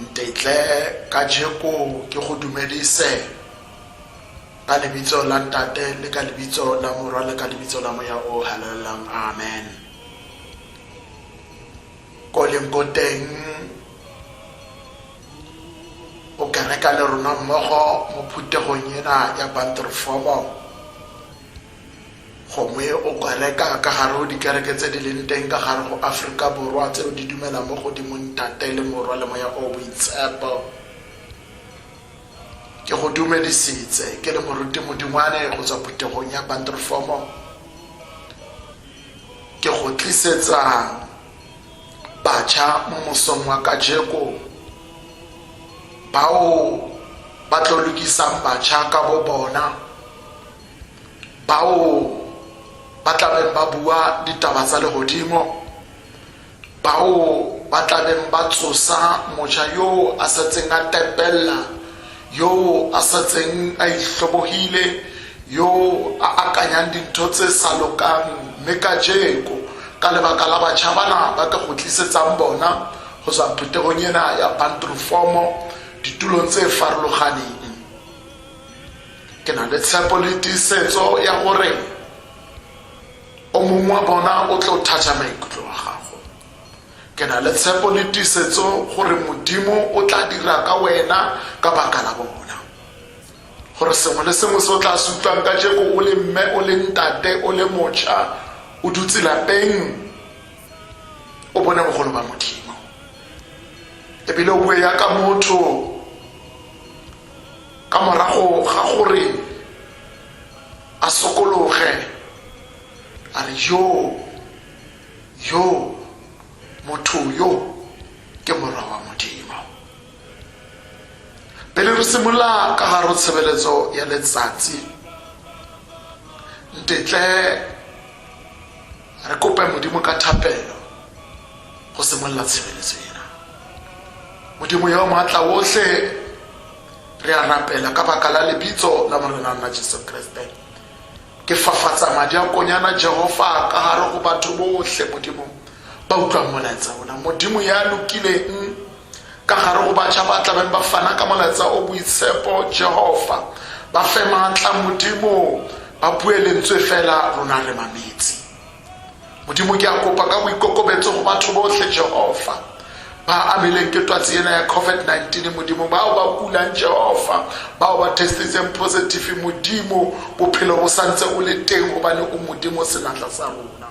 Ntetle kajeko ke go dumedise ka lebitso la Ntate le ka lebitso la Morwa le ka lebitso la Moya o halalelang. Amen. Ko leng ko teng o kereka le rona mmogo mo phuthegong ena ya bantrofomo Gongwe o kwale ka ka gare go dikereke tse di leng teng ka gare go Aforika Borwa tseo di dumelang mo go Dimong Tate le Morwa le Moya o o Boitshepo. Ke go dumedisitse, ke le Moruti Modingwane go tswa phuthegong ya Banturfomo. Ke go tlisetsa batjha mo mosong wa kajeko bao ba tlo lokisang batjha ka bo bona bao ba tlabeng ba bua ditaba tsa legodimo bao ba tlabeng ba tsosa moja yoo a setseng a tepella yoo a setseng a itlhobogile yoo a akanyang dintho tse sa lokang mme ka jeko ka lebaka la batšha bana ba ka go tlisetsang bona go tswa phuthegong ena ya bantrofomo ditulong tse farologaneng Ke na le tshepo le tiisetso ya gore o mongwe wa bona o tlo thatha maikutlo wa gago. Ke na le tshepo le tiisetso gore Modimo o tla dira ka wena ka baka la bona. Gore sengwe le sengwe se o tla se utlwang ka jeko o le mme o le ntate o le mocha o dutse lapeng o bone bogolo ba Modimo. Ebile o bue ya ka motho ka morago ga gore a sokologe a re yo yo motho yo ke morwa wa modimo pele re simolola ka garo tshebeletso ya letsatsi ntetle Re kope Modimo ka thapelo go simolola tshebeletso ena. Modimo yo maatla wotlhe, re a rapela ka baka la lebitso la Morena nna Jesu Kriste. Ke fafatsa madi a konyana Jehova ka gare go batho botlhe Modimo ba utlwang molaetsa ona. Modimo ya lokileng Ka gare go batšha ba tlabeng ba fana ka molaetsa o boitshepo, Jehova, ba fe maatla, Modimo, ba bue lentswe fela, rona re mametse. Modimo, ke a kopa ka boikokobetso go batho botlhe, Jehova, ba amileng ke twatsi ena ya COVID-19, Modimo, bao ba kulang, Jehova, bao ba testitseng positive, Modimo, bophelo bo santse o le teng gobane o Modimo senatla sa rona.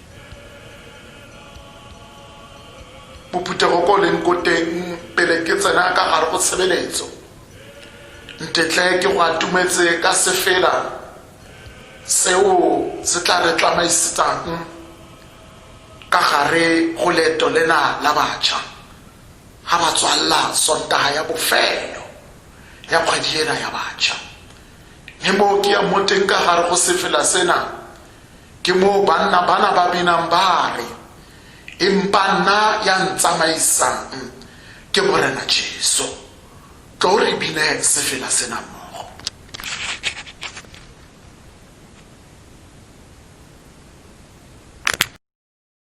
bophuthego ko leng ko teng pele ke tsena ka gare go tshebeletso ntetle ke go atumetse ka sefela seo se tla re tsamaisetsang ka gare go leeto lena la batšha ga ba tswalela sontaga ya bofelo ya kgwedi ena ya batšha mme moo ke ya mo teng ka gare go sefela sena ke moo banna bana ba binang ba re empa nna ya ntsamaisang ke morena jesu tlo re bine sefela sena mmogo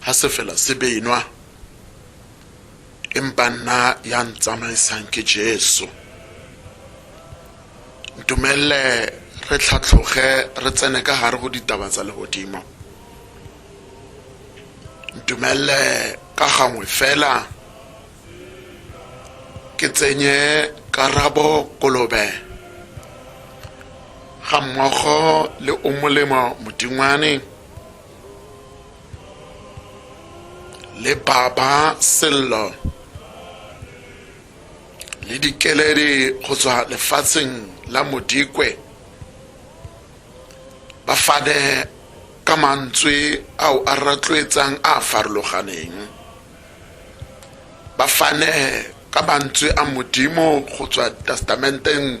Ha se feela se beinwa, empa nna ya ntsamaisang ke Jesu. Ntumelle re tlhatlhoge re tsene ka gare go ditaba tsa legodimo. Ntumelle ka gangwe fela ke tsenye karabo kolobe ga mmogo le o molemo modingwane le baba sello le dikeledi go tswa lefatsheng la modikwe ba fane ka mantswe ao a ratloetsang a farologaneng ba fane ka mantswe a modimo go tswa testamenteng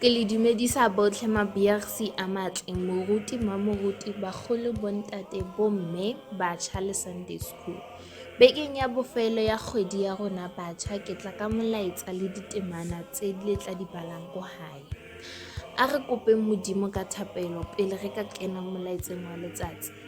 Ke le dumedisa botlhe mabiagsi a matle, moruti, mmamoruti, bagolo, bontate, bomme, batšha le Sunday School. Bekeng ya bofelo ya kgwedi ya rona batšha, ke tla ka molaetsa le ditemana tse le tla di balang ko gae. A re kopeng Modimo ka thapelo pele re ka kena molaetseng wa letsatsi.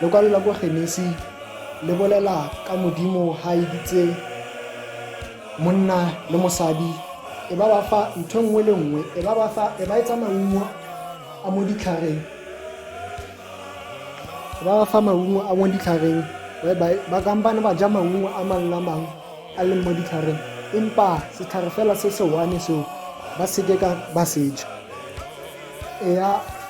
Lokwalo la kwa Genesi le bolela ka Modimo ha a editse monna le mosadi e ba ba fa ntho nngwe le nngwe e ba ba fa e ba etsa maungo a mo ditlhareng e ba ba fa maungo a mo ditlhareng ba kampane ba ja maungo a mangwe a mangwe a leng mo ditlhareng empa setlhare fela se se one seo ba seke ka ba seja eya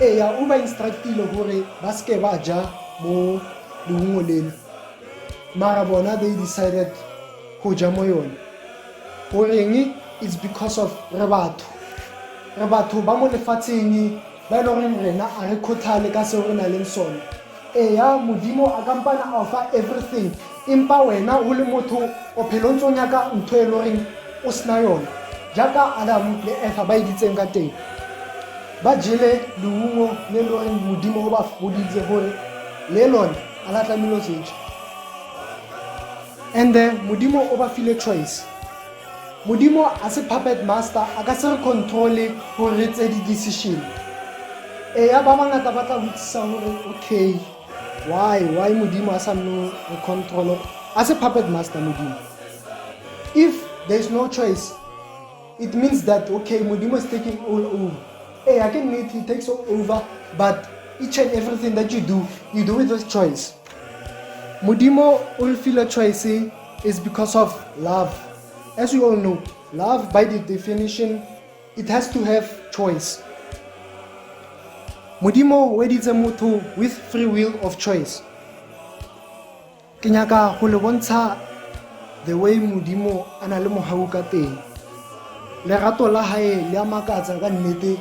Eya, o ba instructile gore ba seke ba ja mo leungo lele. Mara bona they decided go ja mo yone. Goreng? It's because of re batho. Re batho ba mo lefatsheng ba e le goreng rena a re kgothale ka seo re nang le sone. Eya modimo a kampana a fa everything empa wena o le motho o phelo ntse o nyaka ntho e loreng o sena yone jaaka adamu le efa ba editseng ka teng ba jele leungo le loreng modimo o ba foditse gore le lone a la tlamelo jeje and then modimo o ba file choice Modimo a se puppet master, a ka se re control-e gore re tseye di-decision. Eya ba bangata ba tla botsisa gore okay why why modimo a sa nno re control-e a se puppet master modimo if there is no choice it means that okay modimo is taking all over eya ke nnete he takes all over but each and everything that you do you do with this choice modimo o lefile choice It's because of love. As we all know, love by the definition, it has to have choice. Modimo weditse motho with free will of choice. Ke nyaka go le bontsha the way Modimo a na le mohau ka teng. Lerato la hae le a makatsa ka nnete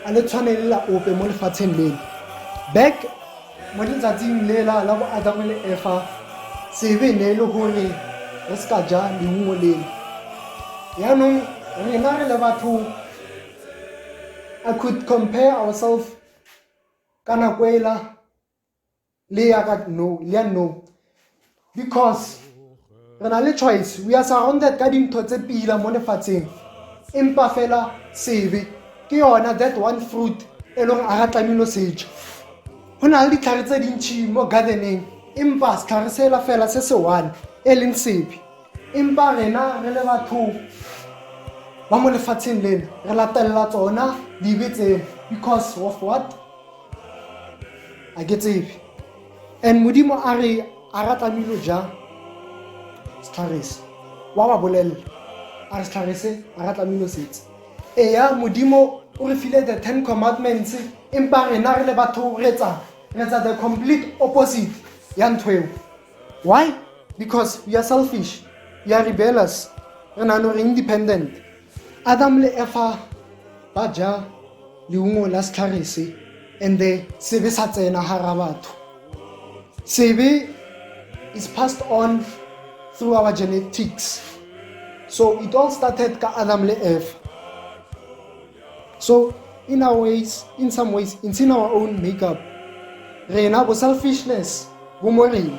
a le tshwane le la ope mo lefatsheng leno. Back Mo letsatsing lela la bo Adama le Efa, tsebe ne e le gore re se ka ja leungo lele. Yaanong rena re le batho, I could compare ourselves ka nako ela le ya ka no, le ya nou. because re na le choice we are surrounded ka dintho tse pila mo lefatsheng empa fela sebe ke yona that one fruit e leng a ga tlamelo seja go na le ditlhare tse dintšhi mo gardening empa setlhare sela fela se se one e leng sebe empa rena re le batho ba mo lefatsheng lena re latelela tsona dibe tsena because of what a ke tsebe and modimo a re a ra tlamilo ja setlharese wa wa bolelela a re setlharese a ra tlamilo setse eya modimo o re file the ten commandments empa rena re le batho retsa retsa the complete opposite ya ntho eo why because we are selfish we are rebellious re nano re independent Adam le Efa ba ja leungo la setlhare se and the sebe sa tsena gara batho sebe is passed on through our genetics so it all started ka adam le eva so in our ways in some ways it's in our own makeup rena bo selfishness bo mo rena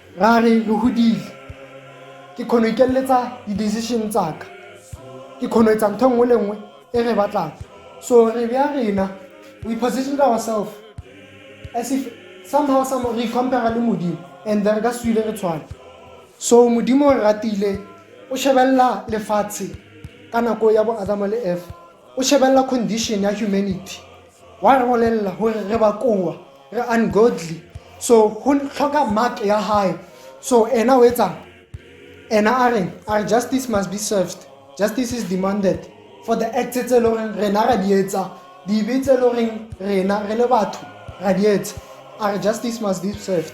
ra re re godile ke kgono ikeleletsa di-decision tsaka ke kgono etsa ntho nngwe le nngwe e re batlang so re bja rena we positioned ourselves as if somehow some re compare le modimo and then ka swile re tshwana so modimo o ratile o shebelela lefatshe ka nako ya bo adama le efa o shebelela condition ya humanity Wa re bolella gore re ba koa re ungodly so go tlhoka mark ya hae so ena o etsang ena a reng a re justice must be served justice is demanded for the acts tse e le goreng rena ra di etsa dibe tse e le goreng rena re le batho ra di etsa a re justice must be served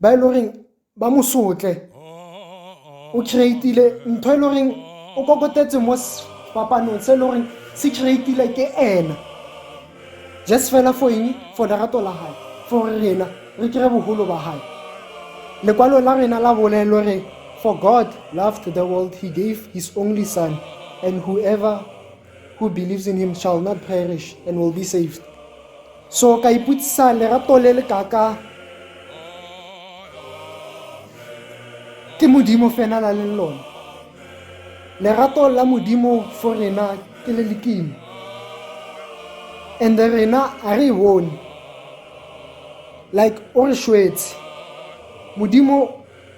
ba e le goreng ba mo sotle o creatile ntho e le goreng o kokotetse mo sepapanong se e le goreng se creatile ke ena just fela for eng for lerato la gae for rena re kry bogolo ba gae lekwalo la rena la bolelo re for god loved the world he gave his only son and whoever who believes in him shall not perish and will be saved so ka iputsisa lerato le le kaka ke modimo fena la leng lone lerato la modimo fo rena ke le lekimo and rena a re e bone like o re shwetse modimo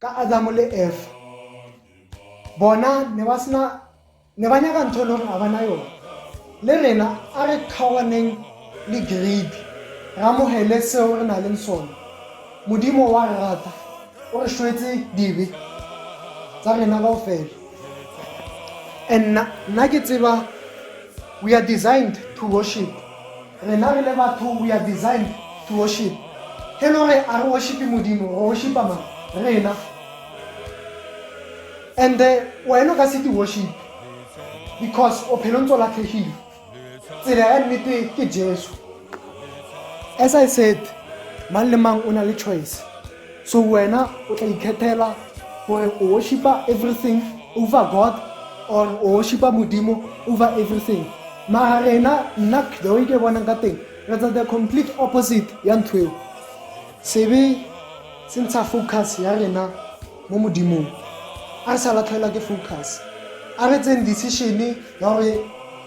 ka Adamo le Eva bona ne ba sena ne ba nyaka ntho e le gore a bana yone le rena a re kgaoganeng le greedy re amogele seo re na leng sone modimo wa re rata o re shwetse dibe tsa rena kao fela and nna ke tseba we are designed to worship rena re le batho we are designed to worship e le gore a re worshipe modimo re worshipa mang rena and eh, wena o ka se di worship because o phelo ntse o latlhegile tsela ya nnete ke jesu as i said mang le mang o na le choice so wena o tla ikgethela gore o worshipa everything over god or o worshipa modimo over everything mara rena nna the way ke bonang ka teng re tsa the complete opposite ya ntho eo sebe se ntsha focus ya rena mo modimong a re sa latlhelwa ke focus a re tseng decision ya gore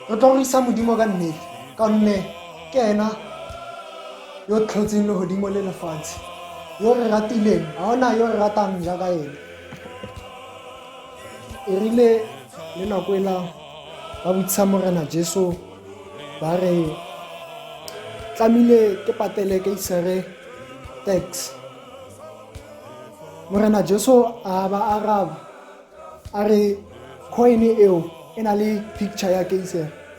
re tlo go isa modimo ka nnete ka gonne ke ena yo tlhotseng legodimo le lefatshe yo re ratileng ga ona yo re ratang jaaka ene e rile le nako e la ba botsisa morena jesu ba re tlamile ke patele ke isere tax morena jesu a ba araba a re coin eo e na le picture ya keisere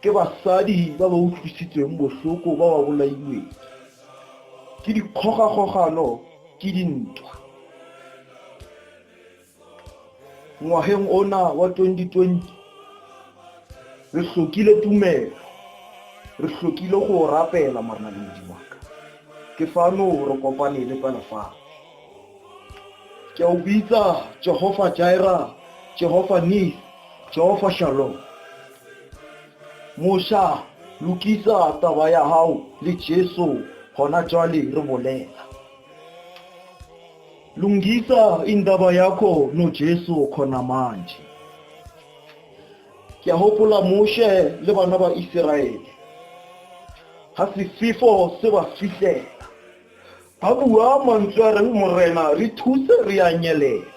ke basadi ba ba utlwisitsweng bohloko ba ba bolailweng ke dikgogakgogano ke dintwa ngwageng ona wa 2020 re hlokile tumelo re hlokile go rapela manaledi waka ke fano re kopane le pela fano ke a o bitsa jehofa jaira jehofa nis jehofa shalom mosha lokisa taba ya gago le jesu gona jwale re bolela lungisa indaba yakho nojesu khona manje ke a gopola moshe le bana ba iseraele ga sefifo se ba fihlela A bua mantswe a reng, Morena, re thuse re a nyelela.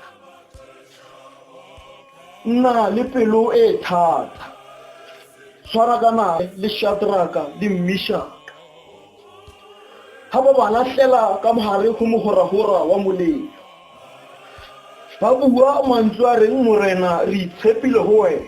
Nna le pelo e e thata. Tshwana ka nae le Shadraka le Mishaka. Ha ba ba latlhela ka mogare go mogoragora wa molelo. Ba bua mantswe a reng, Morena, re itshepile go wena.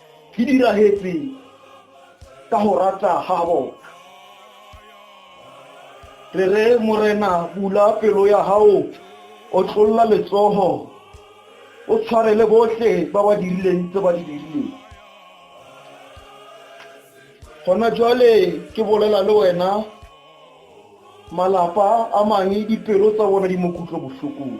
Ke dirahetse ka go rata ga bona. Re re Morena bula pelo ya gago, o tlolola letsogo, o tshwarele botlhe ba ba dirileng tse ba di dirileng. Gona jwale ke bolela le wena, malapa a mangwe dipelo tsa bona di mo kutlobohlokong.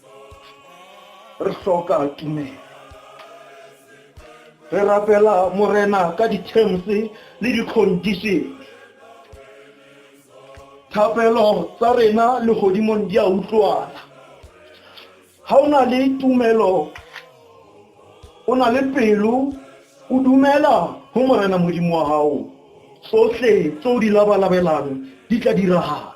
re hloka tumelo re rapela morena ka di-terms le di-condition thapelo tsa rena le godimong di a utlwana ga o na le tumelo o na le pelo o dumela go morena modimo wa gago tsotlhe tse o di labalabelang di tla diragala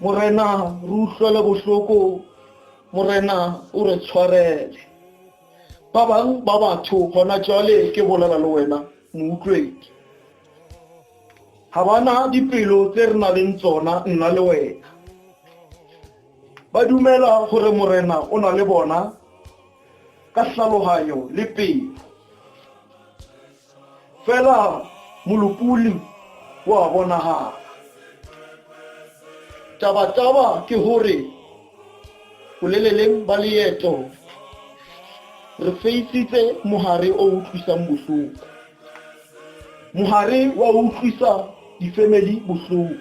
morena re utlwele bohloko morena o re tshwarele ba bang ba batho gona jwale ke bolela le wena moutlwedi ga bana dipelo tse re na leng tsona nna le wena ba dumela gore morena o na le bona ka tlhaloganyo le pelo fela molopoli wa bonagala taba-taba ke gore boleleleng ba leeto re feisitse mogare o utlwisang bohloko mogare wa utlwisa difemeli bohloko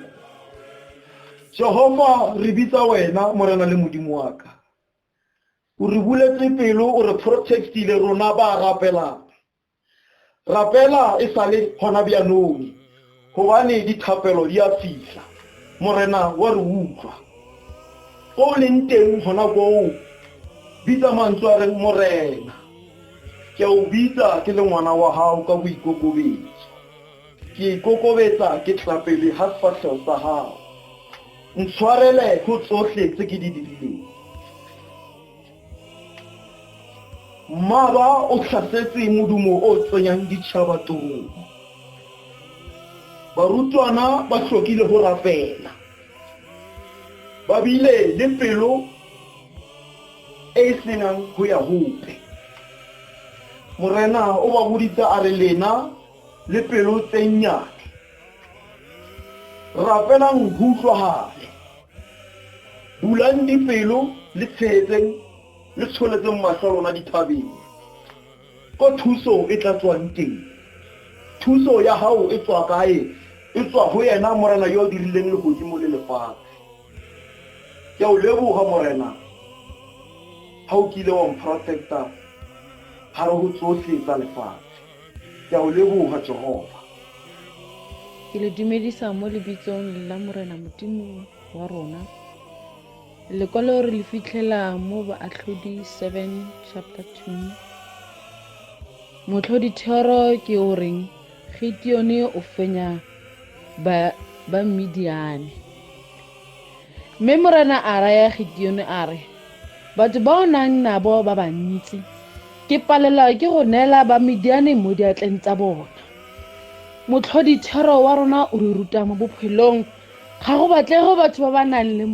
jehova re bitsa wena morena le modimo wa ka o re buletse pelo o re protectile rona ba rapelang Rapela e sale gona bjanong, gobane dithapelo di a fihla. Morena wa re utlwa. Ko o leng teng gona koo, bitsa mantswe a reng, Morena, ke a o bitsa ke le ngwana wa gago ka boikokobetso. Ke ikokobetsa ke tla pele ga sefatlhego sa gago. Ntshwarele go tsohle tse ke di dirileng. Mmaba o tlhasetse modumo o tsenyang ditšhaba torong. Barutwana ba tlhokile go rapela. Ba bile le pelo e e senang go ya gope. Morena o ba boditse a re, Lena le pelo tse nnyane! rapelang go utlwagale bulang dipelo le tshegetseng le tsholetseng matlho lona dithabeng ko thuso e tla tswang teng thuso ya gago e tswa kae e tswa go yena morena yo o dirileng legodimo le lefatshe ke o leboga morena ga o kile wa mprotecta gare go tsotlhe tsa lefatshe Ke a o leboga, Jehova. Ke le dumedisa mo lebitsong la Morena Modimo wa rona. Lekwalo re le fitlhela mo Baatlhodi 7 chapter 2. Motlhodi thero ke o reng Gideone o fenya ba ba Midiane. Mme Morena a raya Gideone a re, Batho ba o nang nabo ba bantsi, ke palelwa ke go neela Bamidiane mo diatleng tsa bona. Motlhodithero wa rona o re ruta mo bophelong, ga go batlege batho ba ba nang le,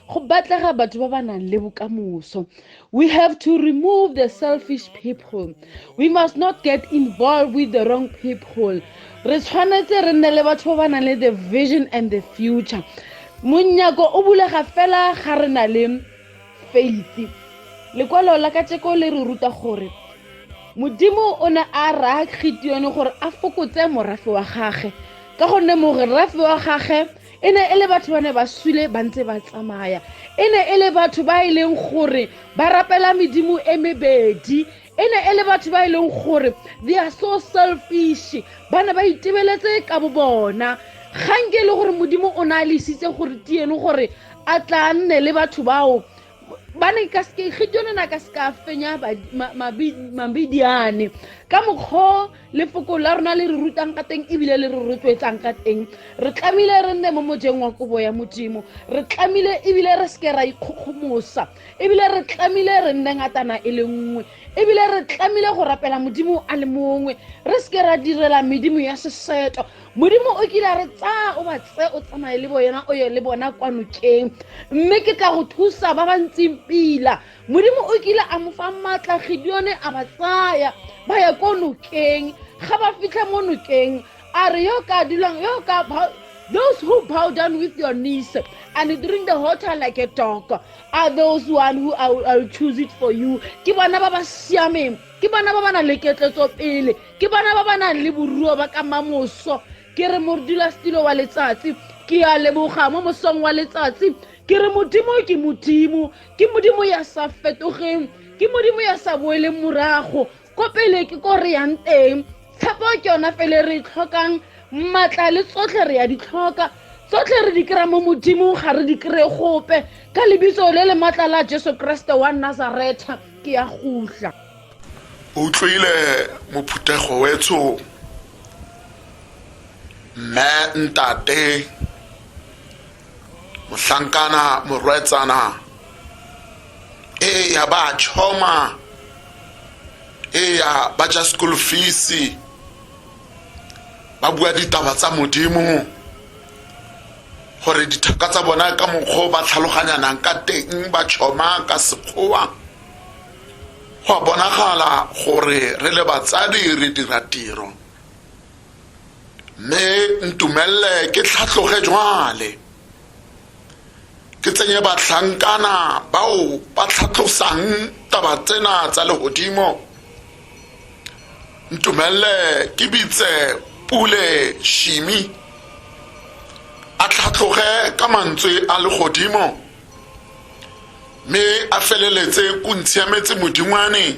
go batlega batho ba ba nang le bokamoso. We have to remove the selfish people. We must not get involved with the wrong people. Re tshwanetse re nne le batho ba ba nang le the vision and the future. Monyako o bulega fela ga re na le faith. Lekwalo la kajeko le re ruta gore Modimo o ne a raya Gideone gore a fokotse morafe wa gagwe ka gonne morafe wa gagwe e ne e le batho ba ne ba swile ba ntse ba tsamaya e ne e le batho ba e leng gore ba rapela medimo e mebedi e ne e le batho ba e leng gore they are so selfish ba ne ba itebeletse ka bo bona gang ke e le gore modimo o ne a lesitse gore tieno gore a tla nne le batho bao ba ne ka seke gideone na ka seka fenya mabidiane ka mokgwa lefoko la rona le re rutang ka teng ebile le re rotloetsang ka teng re tlamile re nne mo mojeng wa kobo ya modimo re tlamile ebile re seke ra ikgokgomosa ebile re tlamile re nne ngatana e le nngwe ebile re tlamile go rapela modimo a le mongwe re seke ra direla medimo ya seseto modimo o kile a re tsaya o ba tse o tsamaye le boena o ye le bona kwa nokeng mme ke tla go thusa ba ba ntseng pila modimo o kile a mo fa maatla gideone a ba tsaya ba ya ko nokeng ga ba fitlha mo nokeng a re yo ka dulang yo ka those who bow down with your knees and drink the water like a dog are those one who I will, I will choose it for you ke bona ba ba siameng ke bona ba ba nang le ketletso pele ke bona ba ba nang le boruo ba ka mamoso ke re modula stilo wa letsatsi ke a leboga mo mosong wa letsatsi ke re modimo ke modimo ke modimo ya sa fetogeng ke modimo ya sa boeleng morago ko pele ke ko re yang teng tshepo ke yona fele re e tlhokang maatla le tsotlhe re ya di tlhoka tsotlhe re di kry-a mo modimong ga re di kry-e gope ka lebitso le le maatla la jesu keresete wa nazaretha ke ya gutla o utlwile mophuthego wetsho mme ntate mohlankana morwetsana eya ba choma eya ba ja school fees ba bua ditaba tsa modimo gore dithaka tsa bona ka mokgwa ba tlhaloganyanang ka teng ba choma ka sekgowa go bonagala gore re le batsadi re dira tiro mme ntumelele ke tlhatlhoge jwale ke tsenye batlhankana bao ba tlhatlosang taba tsena tsa legodimo ntumelele ke bitse pule shimi a tlhatlhoge ka mantswe a legodimo mme a feleletse o ntshiametse modingwane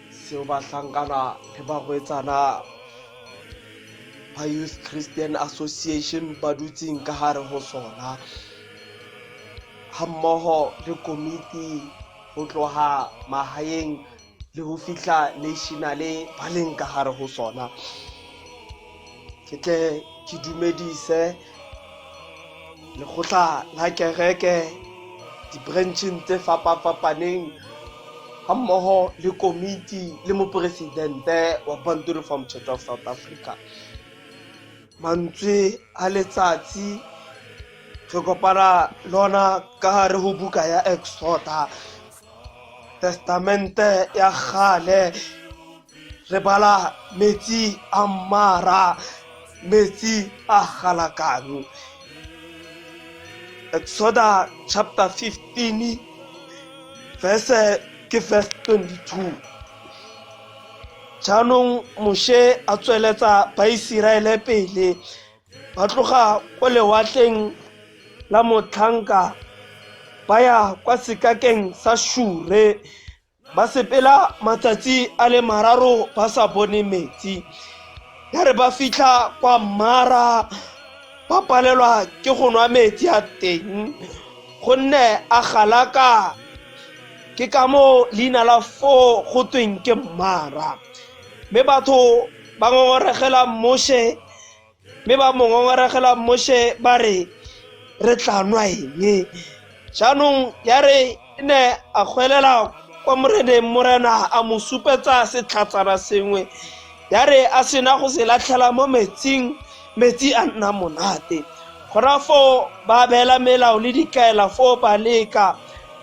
seo bahlankana le bagwetsana ba youth christian association ba dutseng ka gare go sona ga mmogo le komiti go tloga magaeng le go fitlha nationale ba leng ka gare go sona ke tle ke dumedise lekgotla la kereke dibrancheng tse fapafapaneng ga mmogo le komiti le moporesidente wa bantu reform church of south africa mantswe a letsatsi re kopana lona ka gare go buka ya exoda testamente ya gale re bala metsi a mmara metsi a galakano exoda chapter 15 verse ke verse 22 jaanong moshe a tsweletsa baiseraele pele ba tloga ko lewatleng la motlhanka ba ya kwa sekakeng sa shure ba sepela matsatsi a le mararo ba sa bone metsi ya re ba fitlha kwa mmara ba palelwa ke go nwa metsi a teng gonne a galaka ke ka moo leina la foo go tweng ke mmara mme batho ba ngongoregela moshe mme ba mo ngongoregela moshe ba re re tla nwa eng jaanong ya re ne a gwelela kwa moreneng morena a mo supetsa setlhatsana sengwe ya re a sena go se latlhela mo metsing metsi a nna monate gona foo ba beela melao le dikaela foo ba leka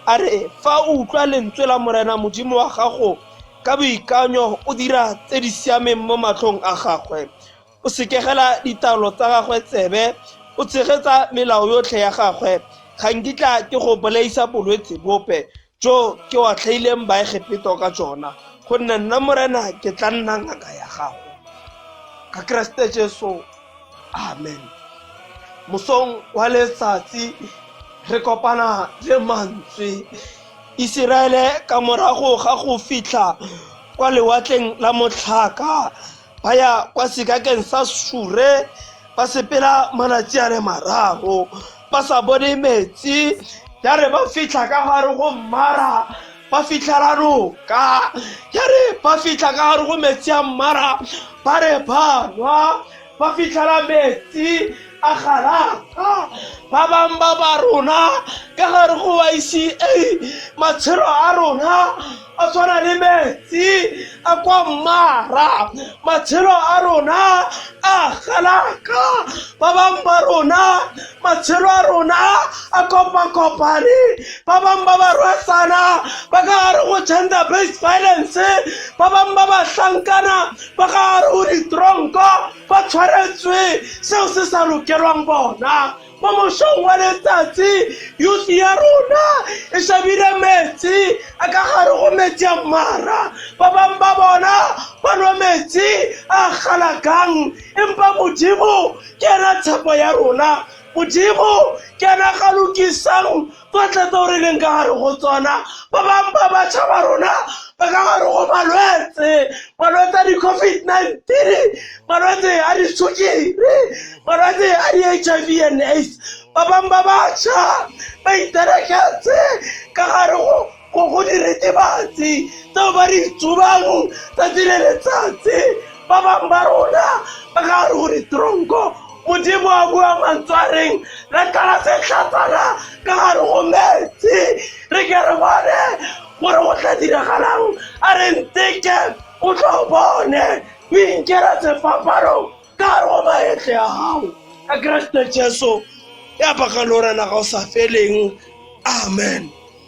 a re fa o utlwa lentswe la morena modimo wa gago Ka boikanyo o dira tse di siameng mo matlhong a gagwe, o sekegela ditaelo tsa gagwe tsebe, o tshegetsa melao yotlhe ya gagwe. Ga nkitla ke go bolaisa bolwetse bope jo ke otlhaileng Baegepeto ka jona, gonne nna Morena ke tla nna ngaka ya gago. Ka Keresete Jesu amen mosong wa letsatsi re kopana le mantswe iseraele ka morago ga go fitlha kwa lewatleng la motlhaka ba ya kwa sekakeng sa sure ba sepela malatsi a le mararo ba sa bone metsi ya re ba fitlha ka gare go mmara ba fitlha ra roka ya re ba fitlha ka gare go metsi a mmara ba re ba nwa ba fitlhela metsi a galata ba bangwe ba ba rona ka gare go yca matshelo a rona a tshwana le metsi a kwa mmara matshelo a rona a galaka ba bangwe ba rona matshelo a rona a kopakopane ba bangwe ba ba rwesana ba ka gare go gender based violence ba bangwe ba ba hlankana ba ka gare go ditronko ba tshwaretswe seo se sa lokelwang bona mo mosong wa letsatsi yusi ya rona e shabile metsi a ka gare go metsi a mmara ba bangwe ba bona ba nwa metsi a galakang empa modimo ke ena tshepo ya rona modimo ke ena ga lokisang tsotlhe tse o re leng ka gare go tsona ba bangwe ba batšha ba rona ba ka gare go malwetse malwetse a di-covid nineteen malwetse a disukiri malwetse a di-h i v and aids ba bangwe ba batšha ba itereketse ka gare go ko go diritibatsi tseo ba di tsubang tsatsi le letsatsi ba bangwe ba rona ba ka re go ditronko modimo a bua mantswareng re kala setlhatsana ka gare go metsi re ke re bone gore go tla diragalang a re nteke o tlo bone o inkela sefapano ka gare go maetle ya gago ka keresete jesu ya baka le orena ga o sa feleng amen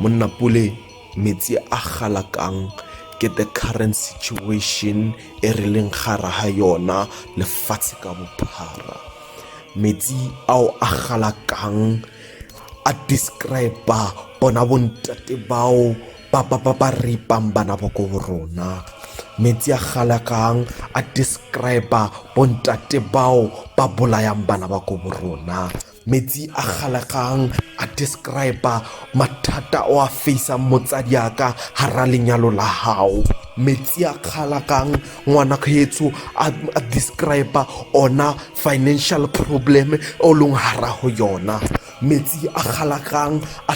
Monna Pule, metsi a galakang ke the current situation e re leng gara ga yona lefatshe ka bophara metsi ao a galakang a describa bona bontate bao ba ba ba ba ripang bana ba ko borona metsi a galakang a describa bontate bao ba bolayang bana ba ko borona metsi a galegang a describa mathata o a faisang motsadi yaka gara lenyalo la gago metsi a kgalakang ngwana kgetsho a describa ona financial problem o leng gara go yona metsi a kgalakang a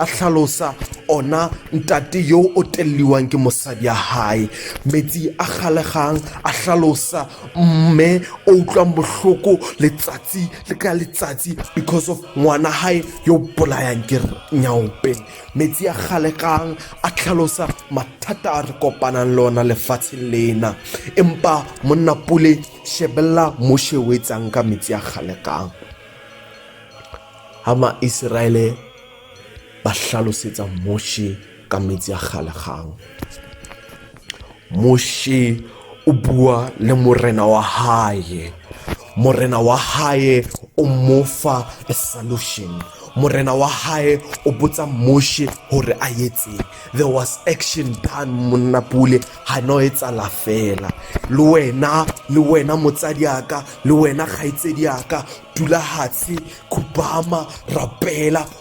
tlhalosa ona ntate yo o teleliwang ke mosadi ya hae metsi a kgalegang a tlhalosa mme o utlwang bohloko letsatsi le ka letsatsi because of ngwana gae yo bolayang ke nyaope metsi a galekang a tlhalosa mathata a re kopanang le ona lefatsheng lena empa monna pule shebelela moshe o etsang ka metsi a galekang ga maiseraele ba tlhalosetsa moshe ka metsi a kgalegang moshe o bua le morena wa hae morena wa hae o mofa a solution morena wa hae o botsa moshe gore a etseng there was action done monna pule ga no e tsala fela le wena le wena motsadi aka le wena kgaitsedi aka dula hatshe khubama rapela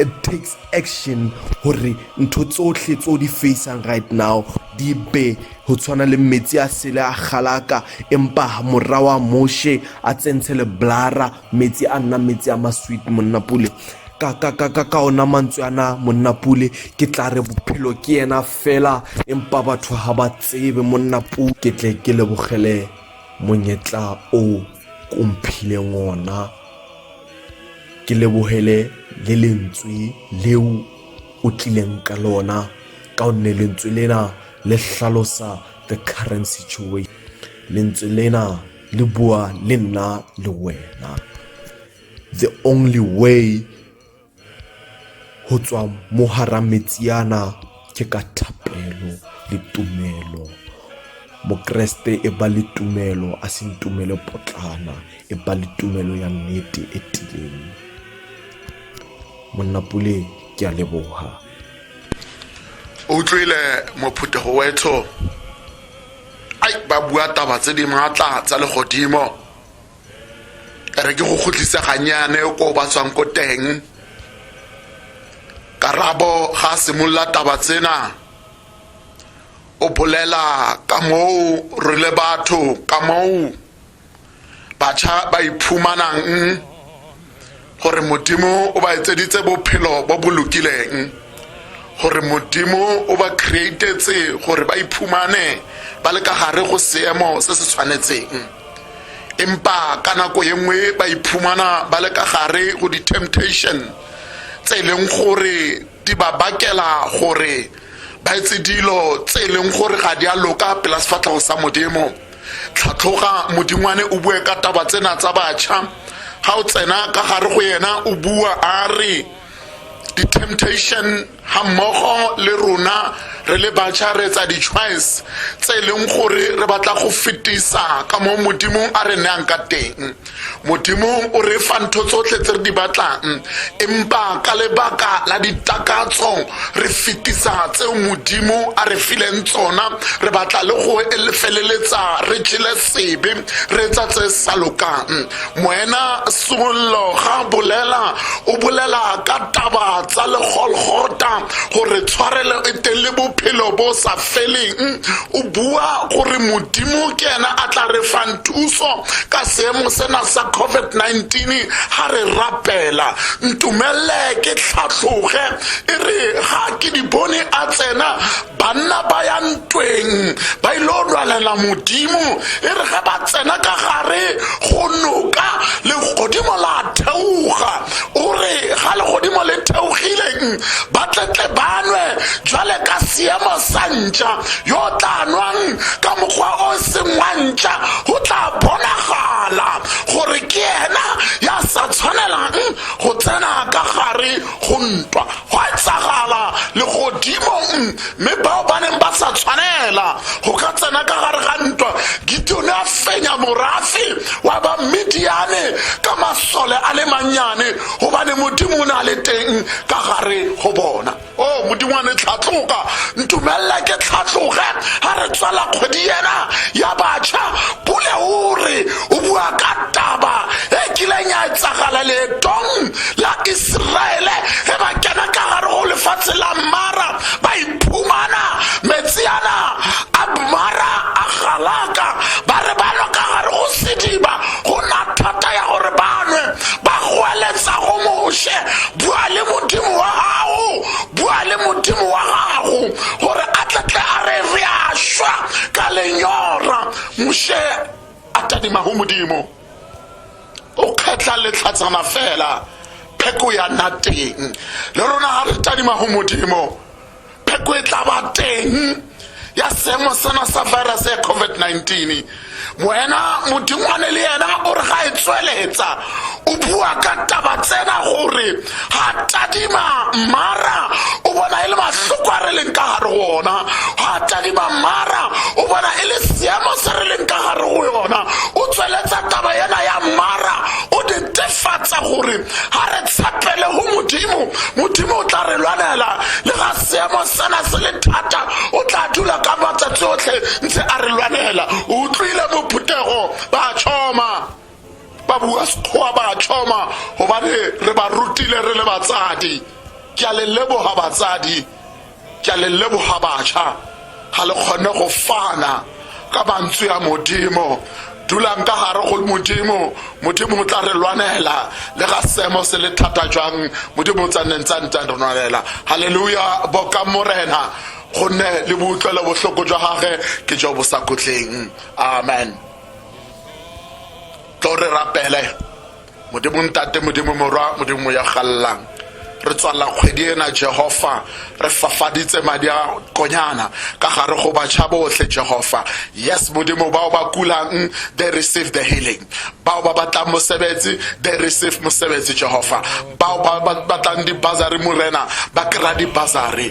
it takes action gore ntho tsotlhe tse o di facang right now di be go tshwana le metsi a sele a galaka empa morra wa moshe a tsentshe le blara metsi a nna metsi a masweet monna pule ka ka ka ka ka ona mantswe ana monna pule ke tla re bophelo ke yena fela empa batho ga ba tsebe monna pule ke tle ke lebogele monyetla o komphileng ona ke lebogele le lentswe leo o tlileng ka lona ka gonne lentswe lena le tlhalosa the current situation lentswe lena le bua le nna le wena the only way Ho tswa mo hara metsiana ke ka thapelo le tumelo. Mokreste e ba le tumelo a seng tumelo potlana, e ba le tumelo ya nnete e tiileng. Monna Pule ke a leboha. o utlwile mophuthego wetsho ai ba bua taba tse di maatla tsa legodimo re ke go kgotlisa ganyane ko ba tswang ko teng karabo ga a simolola taba tsena o bolela ka moo re le batho ka moo batšha ba iphumanang Gore Modimo o ba etseditse bophelo bo bo lokileng. Gore Modimo o ba createtse gore ba iphumane ba le ka gare go seemo se se tshwanetseng. Empa ka nako e nngwe ba iphumana ba le ka gare go di-temptation tse e leng gore di ba bakela gore ba etse dilo tse e leng gore ga di a loka pela sefatlhego sa Modimo. tlhatlhoga modingwane o bue ka taba tsena tsa batšha ga o tsena ka gare go yena o bua a re di-temptation ga mmogo le rona re le batšha re etsa di-choice tse e leng gore re batla go fetisa ka mo modimong a re nayang ka teng Modimo o re fa ntho tsotlhe tse re di batlang empa ka lebaka la ditakatso re fetisa tseo modimo a re fileng tsona re batla le go feleletsa re jele sebe re etsa tse sa lokang moena sollo ga bolela o bolela ka taba tsa legolgota gore tshwarelo e teng le bophelo bo sa tleleng o bua gore modimo ke ena a tla re fang thuso ka seemo sena sa covid-19 ga re rapela ntumelele ke tlhatlhoge e re ga ke di bone a tsena banna ba ya ntweng ba ile lwanela modimo e re ge ba tsena ka gare go noka le godimo la theoga o re ga legodimo le theogileng ba tletle banwe jwale ka seemo sa ntša yo tla nwang ka mokgwa o seng wa ntša go tla bonagala gore ke ena ya sa tshwanelang go tsena ka gare go ntwa Gwa etsagala legodimong, mme bao ba neng ba sa tshwanela go ka tsena ka gare ga ntwa, Gideone a fenya morafe wa Bamidiane ka masole a le mannyane, gobane Modimo o ne a le teng ka gare go bona. O oh, Modimo wa ne tlhatloga, ntumelela ke tlhatloge ga re tswela kgwedi ena ya batšha. Pule o re o bua ka taba e kileng ya etsagala leetong la Iseraele ge ba kena ka gare go lefatshe la Mara ba iphumana metsi ana a Mara a galaka ba re ba lwa ka gare go sediba go na thata ya gore ba nwe ba goeletsa go Moshe bua le modimo wa gago bua le modimo wa gago gore a tletle a re re a šwa ka lenyora Moshe a tadima go modimo o kgetlha letlhatsana fela pheko ya nna teng le rona ga re tadima go modimo pheko e tla ba teng ya seemo sena sa virus ya covid-19 wena modingwane le yena o re ga e tsweletsa o bua ka taba tsena gore ga tadima mara o bona e le mahloko a re leng ka gare go ona ga tadima mara o bona e le seemo se re leng ka gare go yona o tsweletsa taba ena ya mara o netefatsa gore ga re tshepele go modimo modimo o tla re lwanela le ga seemo sena se le thata o tla dula ka matsatsi otlhe ntse a re lwanela o utlwile mophuthego ba tšhoma ba bua sekgowa ba tlhoma gobane re ba rutile re le batsadi ke a le leboga batsadi ke a le leboga batšha ga le kgone go fana ka mantswe a modimo dulang ka gare go modimo modimo o tla re lwanela le ga seemo se le thata jwang modimo o tsanneng tsa ntse re lwanela halleluja boka morena gonne le boutlwelo bohloko jwa gage ke jo bo sa kotleng amen tlo re rapele modimo ntate modimo morwa modimo ya gallang re tswalela kgwedi ena jehofa re fafaditse madi a konyana ka gare go batšha botlhe jehofa yes modimo bao ba kulang they receive the healing bao ba batlang mosebetsi they receive mosebetsi jehofa bao ba batlang dibasari morena ba kry-a dibasari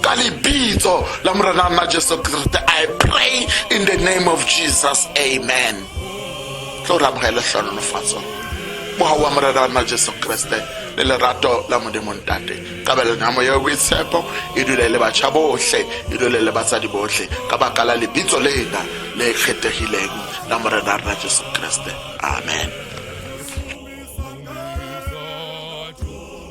ka lebitso la morena nna jesu kriste i pray in the name of jesus amen tlo re amogele tlhonolofatso mogau wa morena wa nna jesu kriste le lerato la modimo ntate kabelelo ya moya boitshepo e dule le batšha botlhe e dule le batsadi botlhe ka baka la lebitso lena le kgethegileng la morena wa rena jesu kriste amen